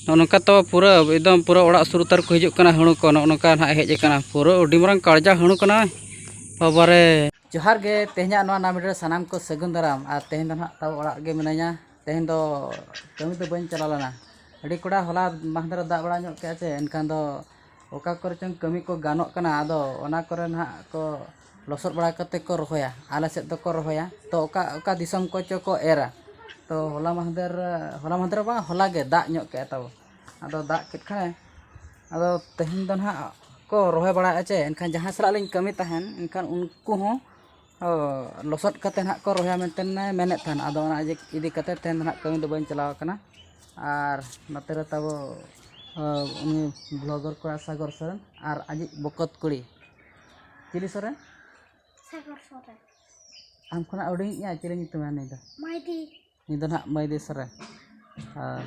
ᱱᱚᱜᱼᱚ ᱱᱚᱝᱠᱟ ᱛᱚ ᱯᱩᱨᱟᱹ ᱮᱠᱫᱚᱢ ᱯᱩᱨᱟᱹ ᱚᱲᱟᱜ ᱥᱩᱨ ᱩᱛᱟᱹᱨ ᱠᱚ ᱦᱤᱡᱩᱜ ᱠᱟᱱᱟ ᱦᱟᱺᱬᱩ ᱠᱚ ᱱᱚᱜᱼᱚ ᱱᱚᱝᱠᱟ ᱱᱟᱦᱟᱜ ᱦᱮᱡ ᱟᱠᱟᱱᱟ ᱯᱩᱨᱟᱹ ᱟᱹᱰᱤ ᱢᱟᱨᱟᱝ ᱠᱟᱲᱡᱟ ᱦᱟᱺᱬᱩ ᱠᱟᱱᱟᱭ ᱵᱟᱵᱟᱨᱮ ᱡᱚᱦᱟᱨ ᱜᱮ ᱛᱮᱦᱮᱧᱟᱜ ᱱᱚᱣᱟ ᱱᱟᱣᱟ ᱵᱷᱤᱰᱤᱭᱳ ᱨᱮ ᱥᱟᱱᱟᱢ ᱠᱚ ᱥᱟᱹᱜᱩᱱ ᱫᱟᱨᱟᱢ ᱟᱨ ᱛᱮᱦᱮᱧ ᱫᱚ ᱱᱟᱦᱟᱜ ᱛᱟᱣ ᱚᱲᱟᱜ ᱨᱮᱜᱮ ᱢᱤᱱᱟᱹᱧᱟ ᱛᱮᱦᱮᱧ ᱫᱚ ᱠᱟᱹᱢᱤ ᱫᱚ ᱵᱟᱹᱧ ᱪᱟᱞᱟᱣ ᱞᱮᱱᱟ ᱟᱹᱰᱤ ᱠᱚᱲᱟ ᱦᱚᱞᱟ ᱢᱟᱦᱫᱮᱨ ᱫᱟᱜ ᱵᱟᱲᱟ ᱧᱚᱜ ᱠᱮᱫᱼᱟ ᱥᱮ ᱮᱱᱠᱷᱟᱱ ᱫᱚ ᱚᱠᱟ ᱠᱚᱨᱮ ᱪᱚᱝ ᱠᱟᱹᱢᱤ ᱠᱚ ᱜᱟᱱᱚᱜ ᱠᱟᱱᱟ ᱟᱫᱚ ᱚᱱᱟ ᱠᱚᱨᱮ ᱱᱟᱦᱟᱜ ᱠᱚ ᱞᱚᱥᱚᱫ ᱵᱟᱲᱟ ᱠᱟᱛᱮᱫ ᱠᱚ ᱨᱚᱦᱚᱭᱟ ᱟᱞᱮ ᱥᱮᱫ ᱫᱚᱠᱚ ᱨᱚᱦᱚᱭᱟ ᱛᱚ ᱚᱠᱟ ᱚᱠᱟ ᱫᱤᱥᱚᱢ ᱠᱚᱪᱚ ᱠᱚ ᱮᱨᱟ ᱛᱚ ᱦᱚᱞᱟ ᱢᱟᱦᱫᱮᱨ ᱦᱚᱞᱟ ᱢᱟᱦᱫᱮᱨ ᱦᱚᱸ ᱵᱟᱝ ᱦᱚᱞᱟ ᱜᱮ ᱫᱟᱜ ᱧᱚᱜ ᱠᱮᱫᱼᱟᱭ ᱛᱟᱵᱚ ᱟᱫᱚ ᱫᱟᱜ ᱠᱮᱫ ᱠᱷᱟᱱᱮ ᱟᱫᱚ ᱛᱮᱦᱮᱧ ᱫᱚ ᱦᱟᱸᱜ ᱠᱚ ᱨᱚᱦᱚᱭ ᱵᱟᱲᱟᱭᱮᱫᱼᱟ ᱪᱮ ᱮᱱᱠᱷᱟᱱ ᱡᱟᱦᱟᱸᱭ ᱥᱟᱞᱟᱜ ᱞᱤᱧ ᱠᱟᱹᱢᱤ ᱛᱟᱦᱮᱱ ᱮᱱᱠᱷᱟᱱ ᱩᱱᱠᱩ ᱦᱚᱸ ᱞᱚᱥᱚᱫ ᱠᱟᱛᱮᱫ ᱦᱟᱸᱜ ᱠᱚ ᱨᱚᱦᱚᱭᱟ ᱢᱮᱱᱛᱮ ᱢᱮᱱᱮᱫ ᱛᱟᱦᱮᱱ ᱟᱫᱚ ᱚᱱᱟ ᱤᱫᱤ ᱠᱟᱛᱮᱫ ᱛᱮᱦᱮᱧ ᱫᱚ ᱦᱟᱸᱜ ᱠᱟᱹᱢᱤ ᱫᱚ ᱵᱟᱹᱧ ᱪᱟᱞᱟᱣ ᱠᱟᱱᱟ ᱟᱨ ᱱᱚᱛᱮ ᱨᱮ ᱛᱟᱵᱚ ᱩᱱᱤ ᱵᱞᱚᱜᱟᱨ ᱠᱚᱲᱟ ᱥᱟᱜᱚᱨ ᱥᱚᱨᱮᱱ ᱟᱨ ᱟᱡᱤᱡ ᱵᱚᱠᱚᱛ ᱠᱩᱲᱤ ᱪᱤᱞᱤ ᱥᱚᱨᱮᱱ ᱥᱟᱜᱚᱨ ᱥᱚᱨᱮᱱ ᱟᱢ ᱠᱷᱚᱱᱟᱜ ᱦᱩᱰᱤᱧᱤᱡ ᱟᱡ ᱪᱤᱞᱤ ᱧᱩᱛᱩᱢᱟ ᱱᱩᱭ ᱫᱚ ᱢᱟᱭᱫᱤ ᱱᱩᱭ ᱫᱚ ᱱᱟᱦᱟᱜ ᱢᱟᱹᱭᱫᱤ ᱥᱚᱨᱮᱱ ᱟᱨ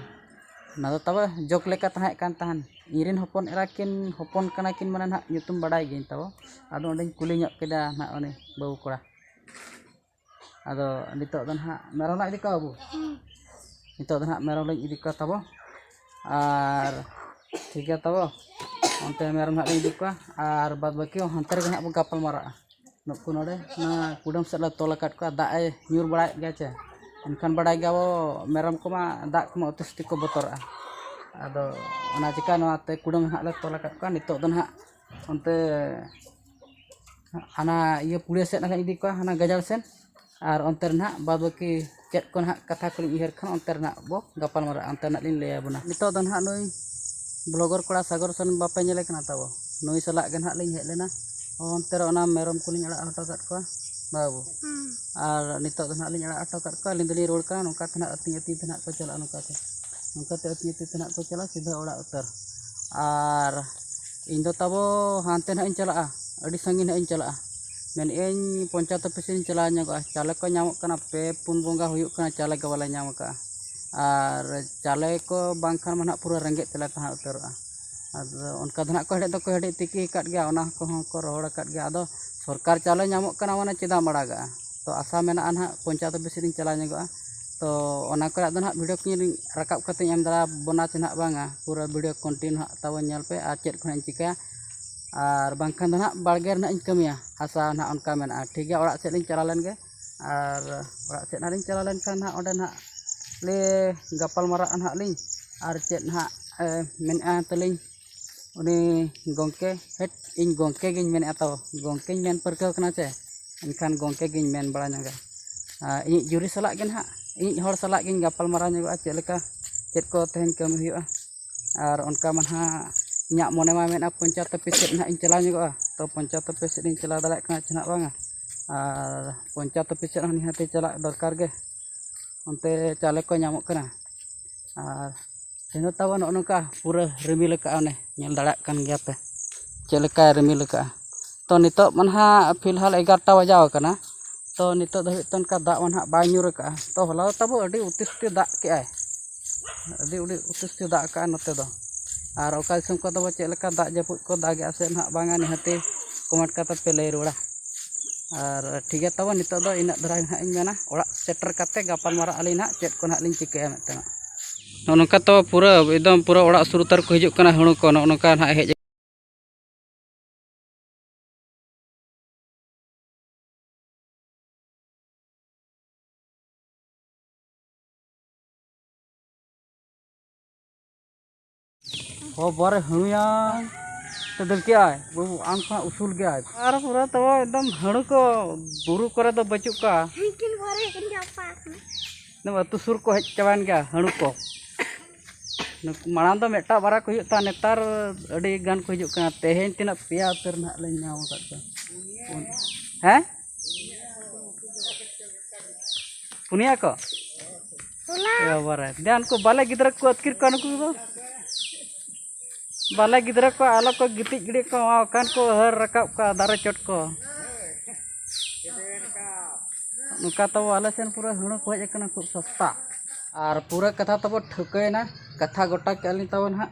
ᱚᱱᱟ ᱫᱚ ᱛᱟᱵᱚ ᱡᱳᱠ ᱞᱮᱠᱟ ᱛᱟᱦᱮᱸ ᱠᱟᱱ ᱛᱟᱦᱮᱱ ᱤᱧ ᱨᱮᱱ ᱦᱚᱯᱚᱱ ᱮᱨᱟ ᱠᱤᱱ ᱦᱚᱯᱚᱱ ᱠᱟᱱᱟ ᱠᱤᱱ ᱢᱟᱱᱮ ᱱᱟᱦᱟᱜ ᱧᱩᱛᱩᱢ ᱵᱟᱰᱟᱭ ᱜᱤᱭᱟᱹᱧ ᱛᱟᱵᱚ ᱟᱫᱚ ᱚᱸᱰᱮᱧ ᱠᱩᱞᱤ ᱧᱚᱜ ᱠᱮᱫᱟ ᱱᱟᱦᱟᱜ ᱩᱱᱤ ᱵᱟᱹᱵᱩ ᱠᱚᱲᱟ ᱟᱫᱚ ᱱᱤᱛᱚᱜ ᱫᱚ ᱱᱟᱦᱟᱜ ᱢᱮᱨᱚᱢ ᱞᱟᱝ ᱤᱫᱤ ᱠᱚᱣᱟ ᱵᱟᱹᱵᱩ ᱱᱤᱛᱚᱜ ᱫᱚ ᱱᱟᱦᱟᱜ ᱢᱮᱨᱚᱢ ᱞᱤᱧ ᱤᱫᱤ ᱠᱚᱣᱟ ᱛᱟᱵᱚ ᱟᱨ ᱴᱷᱤᱠ ᱜᱮᱭᱟ ᱛᱟᱵᱚ ᱚᱱᱛᱮ ᱢᱮᱨᱚᱢ ᱱᱟᱦᱟᱜ ᱞᱤᱧ ᱤᱫᱤ ᱠᱚᱣᱟ ᱟᱨ ᱵᱟᱫᱽ ᱵᱟᱹᱠᱤ ᱦᱚᱸ ᱦᱟᱱᱛᱮ ᱨᱮᱜᱮ ᱱᱟᱦᱟᱜ ᱵᱚᱱ ᱜᱟᱯᱟᱞ ᱢᱟᱨᱟᱜᱼᱟ ᱱᱩᱠᱩ ᱱᱚᱰᱮ ᱱᱚᱣᱟ ᱠᱩᱰᱟᱹᱢ ᱥᱮᱫ ᱞᱮ ᱛᱚᱞ ᱟᱠᱟᱫ ᱠᱚᱣᱟ ᱫᱟᱜ ᱮ ᱧᱩᱨ ᱵᱟᱲᱟᱭᱮᱫ ᱜᱮᱭᱟ ᱪᱮ ᱮᱱᱠᱷᱟᱱ ᱵᱟᱰᱟᱭ ᱜᱮᱭᱟ ᱵᱚ ᱢᱮᱨᱚᱢ ᱠᱚᱢᱟ ᱫᱟᱜ ᱠᱚᱢᱟ ᱩᱛᱤ ᱥᱩᱛᱤ ᱠᱚ ᱵᱚᱛᱚᱨᱟᱜᱼᱟ ᱟᱫᱚ ᱚᱱᱟ ᱪᱤᱠᱟ ᱱᱚᱣᱟᱛᱮ ᱠᱩᱰᱟᱹᱢ ᱱᱟᱦᱟᱜ ᱞᱮ ᱛᱚᱞ ᱟᱠᱟᱫ ᱠᱚᱣᱟ ᱱᱤᱛᱚᱜ ᱫᱚ ᱱᱟᱦᱟᱜ ᱚᱱᱛᱮ ᱦᱟᱱᱟ ᱤᱭᱟᱹ ᱯᱩᱲᱭᱟᱹ ᱥᱮᱫ ᱱᱟᱦᱟᱜ ᱤᱧ ᱤᱫᱤ ᱠᱚᱣᱟ ᱦᱟᱱᱟ ᱜᱟᱡᱟᱲ ᱥᱮᱫ ᱟᱨ ᱚᱱᱛᱮ ᱨᱮ ᱱᱟᱦᱟᱜ ᱵᱟᱫᱽ ᱵᱟᱹᱠᱤ ᱪᱮᱫ ᱠᱚ ᱱᱟᱦᱟᱜ ᱠᱟᱛᱷᱟ ᱠᱚᱞᱤᱧ ᱩᱭᱦᱟᱹᱨ ᱠᱷᱟᱱ ᱚᱱᱛᱮ ᱨᱮᱱᱟᱜ ᱵᱚ ᱜᱟᱯᱟᱞ ᱢᱟᱨᱟᱜᱼᱟ ᱚᱱᱛᱮ ᱱᱟᱦᱟᱜ ᱞᱤᱧ ᱞᱟᱹᱭ ᱟᱵᱚᱱᱟ ᱱᱤᱛᱚᱜ ᱫᱚ ᱱᱟᱦᱟᱜ ᱱᱩᱭ ᱵᱞᱚᱜᱟᱨ ᱠᱚᱲᱟ ᱥᱟᱜᱚᱨ ᱥᱚᱨᱮᱱ ᱵᱟᱯᱮ ᱧᱮᱞᱮ ᱠᱟᱱᱟ ᱛᱟᱵᱚ ᱱᱩᱭ ᱥᱟᱞᱟᱜ ᱜᱮ ᱱᱟᱦᱟᱜ ᱞᱤᱧ ᱦᱮᱡ ᱞᱮᱱᱟ ᱚᱱᱛᱮ ᱨᱮ ᱚᱱᱟ ᱢᱮᱨᱚᱢ ᱠᱚᱞᱤᱧ ᱟᱲᱟᱜ ᱦᱚᱴᱚ ᱠᱟᱜ ᱠᱚᱣᱟ ᱵᱟᱹᱵᱩ ᱟᱨ ᱱᱤᱛᱚᱜ ᱫᱚ ᱱᱟᱦᱟᱜ ᱞᱤᱧ ᱟᱲᱟᱜ ᱦᱚᱴᱚ ᱠᱟᱜ ᱠᱚᱣᱟ ᱟᱹᱞᱤᱧ ᱫᱚᱞᱤᱧ ᱨᱩᱣᱟᱹᱲ ᱠᱟᱱᱟ ᱱᱚᱝᱠᱟ ᱛᱮ ᱱᱟᱦᱟᱜ ᱟᱹᱛᱤᱧ ᱟᱹᱛᱤᱧ ᱛᱮ ᱱᱟᱦᱟᱜ ᱠᱚ ᱪᱟᱞᱟᱜᱼᱟ ᱱᱚᱝᱠᱟ ᱛᱮ ᱚᱱᱠᱟ ᱛᱮ ᱟᱹᱛᱤᱧ ᱟᱹᱛᱤᱧ ᱛᱮ ᱱᱟᱦᱟᱜ ᱠᱚ ᱪᱟᱞᱟᱜᱼᱟ ᱥᱤᱫᱷᱟᱹ ᱚᱲᱟᱜ ᱩᱛᱟᱹᱨ ᱟᱨ ᱤᱧᱫᱚ ᱛᱟᱵᱚ ᱦᱟᱱᱛᱮ ᱱᱟᱦᱟᱜ ᱤᱧ ᱪᱟᱞᱟᱜᱼᱟ ᱟᱹᱰᱤ ᱥᱟᱺᱜᱤᱧ ᱱᱟᱦᱟᱜ ᱤᱧ ᱪᱟᱞᱟᱜᱼᱟ ᱢᱮᱱᱮᱫ ᱟᱹᱧ ᱯᱚᱧᱪᱟᱭᱮᱛ ᱚᱯᱷᱤᱥ ᱤᱧ ᱪᱟᱞᱟᱣ ᱧᱚᱜᱚᱜᱼᱟ ᱪᱟᱣᱞᱮ ᱠᱚ ᱧᱟᱢᱚᱜ ᱠᱟᱱᱟ ᱯᱮ ᱯᱩᱱ ᱵᱚᱸᱜᱟ ᱦᱩᱭᱩᱜ ᱠᱟᱱᱟ ᱪᱟᱣᱞᱮ ᱜᱮ ᱵᱟᱞᱮ ᱧᱟᱢ ᱠᱟᱜᱼᱟ ᱟᱨ ᱪᱟᱣᱞᱮ ᱠᱚ ᱵᱟᱝᱠᱷᱟᱱ ᱢᱟ ᱱᱟᱦᱟᱜ ᱯᱩᱨᱟᱹ ᱨᱮᱸᱜᱮᱡ ᱛᱮᱞᱮ ᱛᱟᱦᱮᱸ ᱩᱛᱟᱹᱨᱚᱜᱼᱟ ᱟᱫᱚ ᱚᱱᱠᱟ ᱫᱚ ᱱᱟᱜ ᱠᱚ ᱦᱮᱰᱮᱡ ᱫᱚᱠᱚ ᱦᱮᱰᱮᱡ ᱛᱤᱠᱤ ᱟᱠᱟᱫ ᱜᱮᱭᱟ ᱚᱱᱟ ᱠᱚᱦᱚᱸ ᱠᱚ ᱨᱚᱦᱚᱲ ᱟᱠᱟᱫ ᱜᱮᱭᱟ ᱟᱫᱚ ᱥᱚᱨᱠᱟᱨ ᱪᱟᱣᱞᱮ ᱧᱟᱢᱚᱜ ᱠᱟᱱᱟ ᱢᱟᱱᱮ ᱪᱮᱫᱟᱜ ᱮᱢ ᱟᱲᱟᱜᱟ ᱛᱚ ᱟᱥᱟ ᱢᱮᱱᱟᱜᱼᱟ ᱱᱟᱜ ᱯᱚᱧᱪᱟᱭᱮᱛ ᱚᱯᱷᱤᱥ ᱥᱮᱫ ᱤᱧ ᱪᱟᱞᱟᱣ ᱧᱚᱜᱚᱜᱼᱟ ᱛᱚ ᱚᱱᱟ ᱠᱚᱨᱮᱱᱟᱜ ᱫᱚ ᱱᱟᱜ ᱵᱷᱤᱰᱤᱭᱳ ᱠᱚᱧ ᱨᱟᱠᱟᱵ ᱠᱟᱛᱮᱧ ᱮᱢ ᱫᱟᱲᱮ ᱟᱵᱚᱱᱟ ᱥᱮ ᱱᱟᱜ ᱵᱟᱝᱟ ᱯᱩᱨᱟᱹ ᱵᱷᱤᱰᱤᱭᱳ ᱠᱚᱱᱴᱤᱱᱤᱭᱩ ᱱᱟᱜ ᱛᱟᱵᱚᱱ ᱧᱮᱞ ᱯᱮ ᱟᱨ ᱪᱮᱫ ᱠᱚ ᱱᱟᱜ ᱤᱧ ᱪᱤᱠᱟᱹᱭᱟ ᱟᱨ ᱵᱟᱝᱠᱷᱟᱱ ᱫᱚ ᱱᱟᱜ ᱵᱟᱲᱜᱮ ᱨᱮ ᱱᱟᱜ ᱤᱧ ᱠᱟᱹᱢᱤᱭᱟ ᱦᱟᱥᱟ ᱱᱟᱜ ᱚᱱᱠᱟ ᱢᱮᱱᱟᱜᱼᱟ ᱴᱷᱤᱠ ᱜᱮᱭᱟ ᱚᱲᱟᱜ ᱥᱮᱫ ᱞᱤᱧ ᱪᱟᱞᱟᱣ ᱞᱮᱱ ᱜᱮ ᱟᱨ ᱚᱲᱟᱜ ᱥᱮᱫ ᱦᱟᱸᱜ ᱞᱤᱧ ᱪᱟᱞᱟᱣ ᱞᱮᱱᱠᱷᱟᱱ ᱦᱟᱸᱜ ᱚᱸᱰᱮ ᱦᱟᱸᱜ ᱞᱮ ᱜᱟᱯᱟᱞ ᱢᱟᱨᱟᱜᱼᱟ ᱦᱟᱸᱜ ᱞᱤᱧ ᱟᱨ ᱪᱮᱫ ᱦᱟᱸᱜ ᱢᱮᱱᱮᱫᱼᱟ ᱛᱟᱹᱞᱤᱧ ᱩᱱᱤ ᱜᱚᱢᱠᱮ ᱦᱮᱴ ᱤᱧ ᱜᱚᱢᱠᱮ ᱜᱤᱧ ᱢᱮᱱᱮᱫᱼᱟ ᱛᱚ ᱜᱚᱢᱠᱮᱧ ᱢᱮᱱ ᱯᱟᱹᱨᱠᱟᱹᱣ ᱠᱟᱱᱟ ᱥᱮ ᱮᱱᱠᱷᱟᱱ ᱜᱚᱢᱠᱮ ᱜᱤᱧ ᱢᱮᱱ ᱵᱟᱲᱟ ᱧᱚᱜᱟ ᱟᱨ ᱤᱧᱤᱡ ᱡᱩᱨᱤ ᱥᱟᱞᱟᱜ ᱜᱮ ᱦᱟᱸᱜ ᱤᱧᱤᱡ ᱦᱚᱲ ᱥᱟᱞᱟᱜ ᱜᱤᱧ ᱜᱟᱯᱟᱞ ᱢᱟᱨᱟᱣ ᱧᱚᱜᱚᱜᱼᱟ ᱪᱮᱫ ᱞᱮᱠᱟ ᱪᱮᱫ ᱠᱚ ᱛᱮᱦᱮᱧ ᱠᱟᱹᱢᱤ ᱦᱩᱭᱩᱜᱼᱟ ᱟᱨ ᱚᱱᱠᱟ ᱢᱟ ᱦᱟᱸᱜ ᱤᱧᱟᱹᱜ ᱢᱚᱱᱮ ᱢᱟ ᱢᱮᱱᱮᱫᱼᱟ ᱯᱚᱧᱪᱟᱭᱮᱛ ᱚᱯᱷᱤᱥ ᱥᱮᱫ ᱦᱟᱸᱜ ᱤᱧ ᱪᱟᱞᱟᱣ ᱧᱚᱜᱚᱜᱼᱟ ᱛᱚ ᱯᱚᱧᱪᱟᱭᱮᱛ ᱚᱯᱷᱤᱥ ᱥᱮᱫ ᱤᱧ ᱪᱟᱞᱟᱣ ᱫᱟᱲᱮᱭᱟᱜ ᱠᱟᱱᱟ ᱪᱮ ᱦᱟᱸᱜ ᱵᱟᱝᱟ ᱟᱨ ᱯᱚᱧᱪᱟᱭᱮᱛ ᱚᱯᱷᱤᱥ ᱥᱮᱫ ᱦᱚᱸ ᱱᱤᱦᱟᱹᱛ ᱪᱟᱞᱟᱜ ᱫᱚᱨᱠᱟᱨ ᱜᱮ ᱚᱱᱛᱮ ᱪᱟᱣᱞᱮ ᱠᱚ ᱧᱟᱢᱚᱜ ᱠᱟᱱᱟ ᱟᱨ ᱛᱮᱦᱮᱧ ᱫᱚ ᱛᱟᱵᱚᱱ ᱱᱚᱜᱼᱚ ᱱᱚᱝᱠᱟ ᱯᱩᱨᱟᱹ ᱨᱤᱢᱤᱞ ᱠᱟᱜᱼᱟ ᱚᱱᱮ ᱧᱮᱞ ᱫᱟᱲᱮᱭᱟᱜ ᱠᱟᱱ ᱜᱮᱭᱟ ᱯᱮ ᱪᱮᱫ ᱞᱮᱠᱟᱭ ᱨᱤᱢᱤᱞ ᱠᱟᱜᱼᱟ ᱛᱚ ᱱᱤᱛᱚᱜ ᱢᱟ ᱦᱟᱸᱜ ᱯᱷᱤᱞᱦᱟᱞ ᱮᱜᱟᱨᱚᱴᱟ ᱵᱟᱡᱟᱣ ᱠᱟᱱᱟ ᱛᱚ ᱱᱤᱛᱚᱜ ᱫᱷᱟᱹᱵᱤᱡ ᱛᱮ ᱚᱱᱠᱟ ᱫᱟᱜ ᱢᱟ ᱦᱟᱸᱜ ᱵᱟᱭ ᱧᱩᱨ ᱠᱟᱜᱼᱟ ᱛᱚ ᱦᱚᱞᱟ ᱫᱚ ᱛᱟᱵᱚ ᱟᱹᱰᱤ ᱚᱛᱤᱥᱴᱤ ᱫᱟᱜ ᱠᱮᱜ ᱟᱭ ᱟᱹᱰᱤ ᱟᱹᱰᱤ ᱚᱛᱤᱥᱨᱤ ᱫᱟᱜ ᱟᱠᱟᱫᱼᱟᱭ ᱱᱚᱛᱮ ᱫᱚ ᱟᱨ ᱚᱠᱟ ᱫᱤᱥᱚᱢ ᱠᱚᱨᱮ ᱫᱚ ᱪᱮᱫ ᱞᱮᱠᱟ ᱫᱟᱜ ᱡᱟᱹᱯᱩᱫ ᱠᱚ ᱫᱟᱜᱮᱫᱼᱟ ᱥᱮ ᱱᱟᱦᱟᱜ ᱵᱟᱝᱟ ᱱᱤᱦᱟᱹᱛᱤ ᱠᱚᱢᱮᱱᱴ ᱠᱟᱛᱮ ᱯᱮ ᱞᱟᱹᱭ ᱨᱩᱣᱟᱹᱲᱟ ᱟᱨ ᱴᱷᱤᱠ ᱜᱮᱭᱟ ᱛᱚᱵᱮ ᱱᱤᱛᱚᱜ ᱫᱚ ᱤᱱᱟᱹᱜ ᱫᱷᱟᱨᱟ ᱜᱮ ᱦᱟᱸᱜ ᱤᱧ ᱢᱮᱱᱟ ᱚᱲᱟᱜ ᱥᱮᱴᱮᱨ ᱠᱟᱛᱮ ᱜᱟᱯᱟᱞ ᱢᱟᱨᱟᱜ ᱟᱹᱞᱤᱧ ᱦᱟᱸᱜ ᱪᱮᱫ ᱠᱚ ᱦᱟᱸᱜ ᱞᱤᱧ ᱪᱤᱠᱟᱹᱭᱟ ᱢᱮᱱᱛᱮ ᱦᱟᱸᱜ ᱱᱚᱜᱼᱚ ᱱᱚᱝᱠᱟ ᱛᱚ ᱯᱩᱨᱟᱹ ᱮᱠᱫᱚᱢ ᱯᱩᱨᱟᱹ ᱚᱲᱟᱜ ᱥᱩᱨ ᱩᱛᱟᱹᱨ ᱠᱚ ᱦᱤᱡᱩᱜ ᱠᱟᱱᱟ ᱦᱩᱲᱩ ᱠᱚ ᱱᱚᱜᱼᱚ ᱱᱚᱝᱠᱟ ᱦᱟᱸᱜ ᱦᱮᱡ ᱦᱚ ᱵᱟᱨᱮ ᱦᱩᱭᱟ ᱛᱮ ᱫᱟᱹᱲ ᱠᱮᱜᱼᱟᱭ ᱵᱟᱹᱵᱩ ᱟᱢ ᱠᱷᱚᱱ ᱩᱥᱩᱞ ᱜᱮᱭᱟᱭ ᱟᱨ ᱯᱩᱨᱟᱹ ᱛᱚ ᱮᱠᱫᱚᱢ ᱦᱟᱹᱲᱩ ᱠᱚ ᱵᱩᱨᱩ ᱠᱚᱨᱮ ᱫᱚ ᱵᱟᱹᱪᱩᱜ ᱠᱚᱣᱟ ᱮᱠᱫᱚᱢ ᱟᱹᱛᱩ ᱥᱩᱨ ᱠᱚ ᱦᱮᱡ ᱪᱟᱵᱟᱭᱮᱱ ᱜᱮᱭᱟ ᱦᱟᱹᱲᱩ ᱠᱚ ᱢᱟᱲᱟᱝ ᱫᱚ ᱢᱤᱫᱴᱟᱝ ᱵᱟᱨᱭᱟ ᱠᱚ ᱦᱩᱭᱩᱜ ᱛᱟᱦᱮᱸᱫ ᱱᱮᱛᱟᱨ ᱟᱹᱰᱤ ᱜᱟᱱ ᱠᱚ ᱦᱤᱡᱩᱜ ᱠᱟᱱᱟ ᱛᱮᱦᱮᱧ ᱛᱤᱱᱟᱹᱜ ᱯᱮᱭᱟ ᱩᱛᱟᱹᱨ ᱱᱟᱦᱟᱜ ᱞᱮ ᱧᱟᱢ ᱟᱠᱟᱫ ᱠᱚᱣᱟ ᱦᱮᱸ ᱯᱩᱱᱭᱟ ᱠᱚ ᱵᱟᱵᱟᱨᱮ ᱫᱮ ᱩᱱᱠᱩ ᱵᱟᱞᱮ ᱜᱤᱫᱽᱨᱟᱹ ᱠᱚ ᱟᱹᱛᱠᱤᱨ ᱠᱚᱣᱟ ᱱᱩᱠᱩ ᱫᱚ ᱵᱟᱞᱮ ᱜᱤᱫᱽᱨᱟᱹ ᱠᱚ ᱟᱞᱚ ᱠᱚ ᱜᱤᱛᱤᱡ ᱜᱤᱰᱤ ᱠᱚ ᱠᱟᱱ ᱠᱚ ᱦᱟᱹᱨ ᱨᱟᱠᱟᱵ ᱠᱚᱣᱟ ᱫᱟᱨᱮ ᱪᱚᱴ ᱠᱚ ᱱᱚᱝᱠᱟ ᱛᱟᱵᱚ ᱟᱞᱮ ᱥᱮᱱ ᱯᱩᱨᱟᱹ ᱦᱩᱲᱩ ᱠᱚ ᱦᱮᱡ ᱟᱠᱟᱱᱟ ᱠᱷᱩᱵ ᱥᱚᱥᱛᱟ ᱟᱨ ᱯᱩᱨᱟᱹ ᱠᱟᱛᱷᱟ ᱛᱟᱵᱚ ᱴᱷᱟᱹᱣᱠᱟᱹᱭᱮᱱᱟ ᱠᱟᱛᱷᱟ ᱜᱚᱴᱟ ᱠᱮᱜᱼᱟ ᱞᱤᱧ ᱛᱟᱵᱚ ᱱᱟᱦᱟᱜ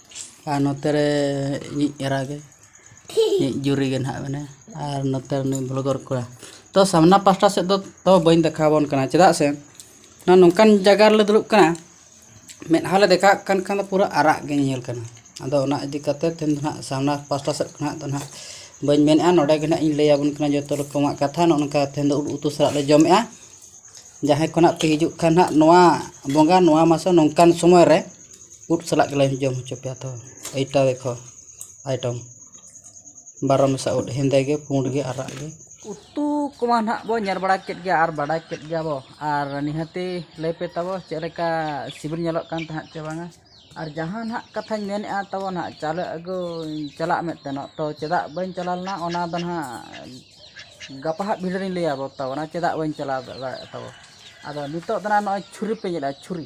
ᱟᱨ ᱱᱚᱛᱮ ᱨᱮ ᱤᱧᱤᱡ ᱮᱨᱟ ᱜᱮ ᱤᱧᱤᱡ ᱡᱩᱨᱤ ᱜᱮ ᱱᱟᱦᱟᱜ ᱢᱮᱱᱟᱭᱟ ᱟᱨ ᱱᱚᱛᱮ ᱨᱮ ᱱᱩᱭ ᱵᱷᱚᱞᱜᱚᱨ ᱠᱚᱲᱟ ᱛᱚ ᱥᱟᱢᱱᱟ ᱯᱟᱥᱴᱟ ᱥᱮᱫ ᱫᱚ ᱛᱚ ᱵᱟᱹᱧ ᱫᱮᱠᱷᱟᱣ ᱟᱵᱚᱱ ᱠᱟᱱᱟ ᱪᱮᱫᱟᱜ ᱥᱮ ᱱᱚᱣᱟ ᱱᱚᱝᱠᱟᱱ ᱡᱟᱭᱜᱟ ᱨᱮᱞᱮ ᱫᱩᱲᱩᱵ ᱠᱟᱱᱟ ᱢᱮᱫᱦᱟ ᱞᱮ ᱫᱮᱠᱷᱟᱣᱟᱜ ᱠᱟᱱ ᱠᱷᱟᱱ ᱫᱚ ᱯᱩᱨᱟᱹ ᱟᱨᱟᱜ ᱜᱮ ᱧᱮᱞ ᱠᱟᱱᱟ ᱟᱫᱚ ᱚᱱᱟ ᱤᱫᱤ ᱠᱟᱛᱮ ᱛᱮᱦᱮᱧ ᱫᱚ ᱱᱟᱦᱟᱜ ᱥᱟᱢᱱᱟ ᱯᱟᱥᱴᱟ ᱥᱮᱫ ᱠᱷᱚᱱᱟᱜ ᱫᱚ ᱱᱟᱦᱟᱜ ᱵᱟᱹᱧ ᱢᱮᱱᱮᱜᱼᱟ ᱱᱚᱰᱮ ᱜᱮ ᱱᱟᱦᱟᱜ ᱤᱧ ᱞᱟᱹᱭ ᱟᱵᱚᱱ ᱠᱟᱱᱟ ᱡᱚᱛᱚ ᱨᱚᱠᱚᱢᱟᱜ ᱠᱟᱛᱷᱟ ᱱᱚᱜᱼᱚ ᱱᱚᱝᱠᱟ ᱛᱮᱦᱮᱧ ᱫᱚ ᱩᱛᱩ ᱥᱟᱞᱟᱜ ᱞᱮ ᱡᱚᱢᱮᱜᱼᱟ ᱡᱟᱦᱟᱸᱭ ᱠᱚ ᱱᱟᱦᱟᱜ ᱯᱮ ᱦᱤᱡᱩᱜ ᱠᱷᱟᱱ ᱱᱟᱦᱟᱜ ᱱᱚᱣᱟ ᱵᱚᱸᱜᱟ ᱱᱚᱣᱟ ᱢᱟᱥᱮ ᱱᱚᱝᱠᱟᱱ ᱥᱚᱢᱚᱭ ᱨᱮ ᱩᱫ ᱥᱟᱞᱟᱜ ᱜᱮᱞᱮ ᱡᱚᱢ ᱦᱚᱪᱚ ᱯᱮᱭᱟ ᱛᱚ ᱮᱭᱴᱟ ᱫᱮᱠᱷᱳ ᱟᱭᱴᱮᱢ ᱵᱟᱨᱚ ᱢᱮᱥᱟ ᱩᱫ ᱦᱮᱸᱫᱮ ᱜᱮ ᱯᱩᱸᱰ ᱜᱮ ᱟᱨᱟᱜ ᱜᱮ ᱩᱛᱩ ᱠᱚᱢᱟ ᱱᱟᱦᱟᱜ ᱵᱚᱱ ᱧᱮᱞ ᱵᱟᱲᱟ ᱠᱮᱫ ᱜᱮᱭᱟ ᱟᱨ ᱵᱟᱰᱟᱭ ᱠᱮᱫ ᱜᱮᱭᱟ ᱵᱚᱱ ᱟᱨ ᱱᱤᱦᱟᱹᱛᱤ ᱞᱟᱹᱭ ᱯᱮ ᱛᱟᱵᱚ ᱪᱮᱫ ᱞᱮᱠᱟ ᱥᱤᱵᱤᱞ ᱧᱮᱞᱚᱜ ᱠᱟᱱ ᱛᱟᱦᱮᱸᱫ ᱥᱮ ᱵᱟᱝᱟ ᱟᱨ ᱡᱟᱦᱟᱸ ᱱᱟᱦᱟᱜ ᱠᱟᱛᱷᱟᱧ ᱢᱮᱱᱮᱫᱼᱟ ᱛᱟᱵᱚ ᱱᱟᱦᱟᱜ ᱪᱟᱣᱞᱮ ᱟᱹᱜᱩ ᱪᱟᱞᱟᱜ ᱢᱮ ᱢᱮᱱᱛᱮ ᱛᱚ ᱪᱮᱫᱟᱜ ᱵᱟᱹᱧ ᱪᱟᱞᱟᱣ ᱞᱮᱱᱟ ᱚᱱᱟ ᱫᱚ ᱱᱟᱦᱟᱜ ᱜᱟᱯᱟ ᱦᱟᱸᱜ ᱵᱷᱤᱰᱤᱭᱳ ᱨᱤᱧ ᱞᱟᱹᱭ ᱟᱵᱚᱱ ᱛᱟᱵᱚᱱᱟ ᱪᱮᱫᱟᱜ ᱵᱟᱹᱧ ᱪᱟᱞᱟᱣ ᱫᱟᱲᱮᱭᱟᱜᱼᱟ ᱛᱟᱵᱚ ᱟᱫᱚ ᱱᱤᱛᱚᱜ ᱫᱚ ᱱᱟᱦᱟᱜ ᱱᱚᱜᱼᱚᱭ ᱪᱷᱩᱨᱤ ᱯᱮ ᱧᱮᱞᱮᱫᱼᱟ ᱪᱷᱩᱨᱤ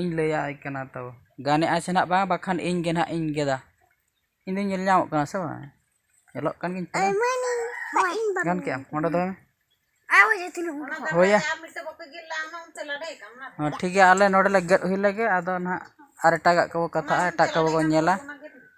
ᱤᱧ ᱞᱟᱹᱭᱟᱭ ᱠᱟᱱᱟ ᱛᱚ ᱜᱟᱱᱮᱫ ᱟᱭ ᱥᱮ ᱦᱟᱸᱜ ᱵᱟᱝ ᱵᱟᱠᱷᱟᱱ ᱤᱧ ᱜᱮ ᱦᱟᱸᱜ ᱤᱧ ᱜᱮᱫᱟ ᱤᱧ ᱫᱚᱧ ᱧᱮᱞ ᱧᱟᱢᱚᱜ ᱠᱟᱱᱟ ᱥᱮ ᱵᱟᱝ ᱧᱮᱞᱚᱜ ᱠᱟᱱ ᱜᱤᱭᱟᱹᱧ ᱛᱚ ᱜᱟᱱ ᱠᱮᱫ ᱟᱢ ᱚᱸᱰᱮ ᱫᱚᱦᱚᱭ ᱢᱮ ᱦᱳᱭᱟ ᱦᱚᱸ ᱴᱷᱤᱠ ᱜᱮᱭᱟ ᱟᱞᱮ ᱱᱚᱰᱮ ᱞᱮ ᱜᱮᱫ ᱦᱩᱭ ᱞᱮᱜᱮ ᱟᱫᱚ ᱦᱟᱸᱜ ᱟᱨ ᱮᱴᱟᱜᱟᱜ ᱠᱚᱵᱚ ᱠᱟᱛᱷᱟᱜᱼᱟ ᱮᱴᱟᱜ ᱠᱚᱵᱚ ᱧᱮᱞᱟ